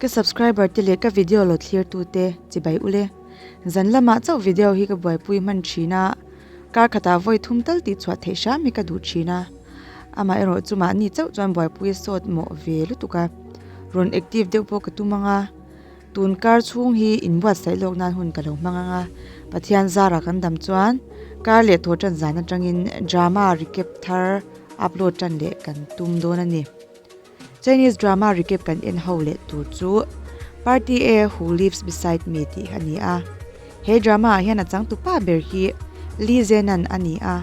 Ka subscriber te leh ka video lo thlir tu te chibai ule zan lama chauh video hi ka buai pui hman thin a kar khata vawi thum tal tih chhuah theih hram hi ka duh thin a ama erawh chu mahni chauh chuan buai pui sawt mawh ve lutuk a rawn active deuh pawh ka tum anga. Tun kar chhung hi in buatsaih lawk nan hun ka lo hmang ang a, Pathian zara kan dam chuan kar leh thaw tan zan atangin drama recap thar upload tan leh kan tum dawn a ni. Chinese drama recap kan en ho leh tur chu Party A Who Lives Beside Me tih a ni a. He drama ah hian a chang tu pa ber hi Lee Zenan a ni a.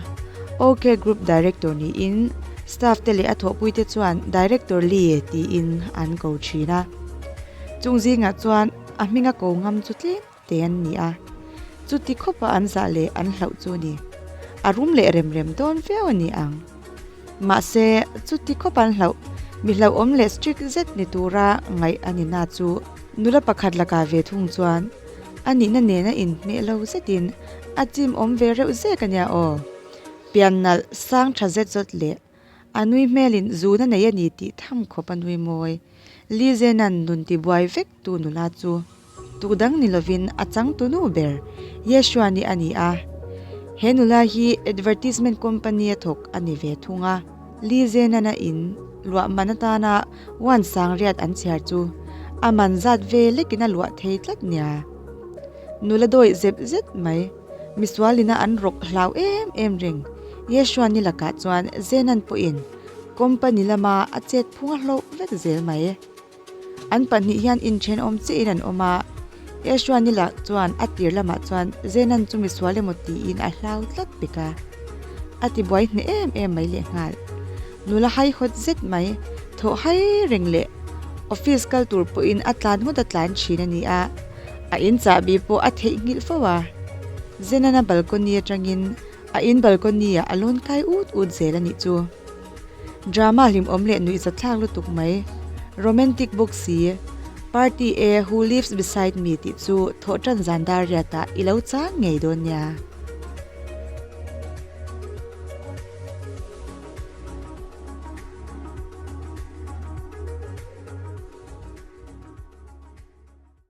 OK Group Director niin staff te leh a thawhpui te chuan Director Lee tiin an ko thin a. Chung zingah chuan a hminga ko ngam chu tlem te an ni a. Chuti khawpa an zah leh an hlauh chu a ni. A rum leh rem rem dawn viau a ni ang. Mahse, chuti khawp an hlauh. Mi hlauhawm leh strict zet ni tura ngaih a nina chu nula pakhat lakah ve thung chuan a nihna nen a inhmeh lo zetin a chimawm ve reuh zek a nia aw. Pian nalh sang tha zet zawt leh a nui hmelin zuna nei a ni tih tham khawp a nui mawi. Lizena'n nun tibuai vek Tu nula chu tu dang ni lovin a chang tu nu ber Yeshua nih a ni a. He nula hi advertisement company a thawk a ni ve thung a. Li Zhenana in luahman atana wan sangriat an chhiar chu a man zat ve lekin a luah thei tlat nia. Nula dawih zep zet mai, misual ina an rawk hlau em em reng. Yeshua ni lakah chuan Zhenan pawhin company lama a chet phunga hlawk vek zel mai. An pahnih hian inthenawm chiahin an awm a, Esau-ni lah chuan a tir lamah chuan Zenan chu mi sual emaw tiin a hlau tlat bik a, a tibuai hne em em mai leh nghal. Nula hai hawt zet mai, thawh hai reng leh office kal tur pawhin a tlan ngawt a tlan thin a ni a, a in chahbi pawh a theih nghilh fo a, Zenan-a balcony atangin a in balcony-ah a lawn kai ut ut zel a nih chu. Drama hlimawm leh nuih zathlak lutuk mai Romantic bawk si. Party e Who lives beside me tih chu thawh tan zan dar riat ah ilo chang ngei dawn nia.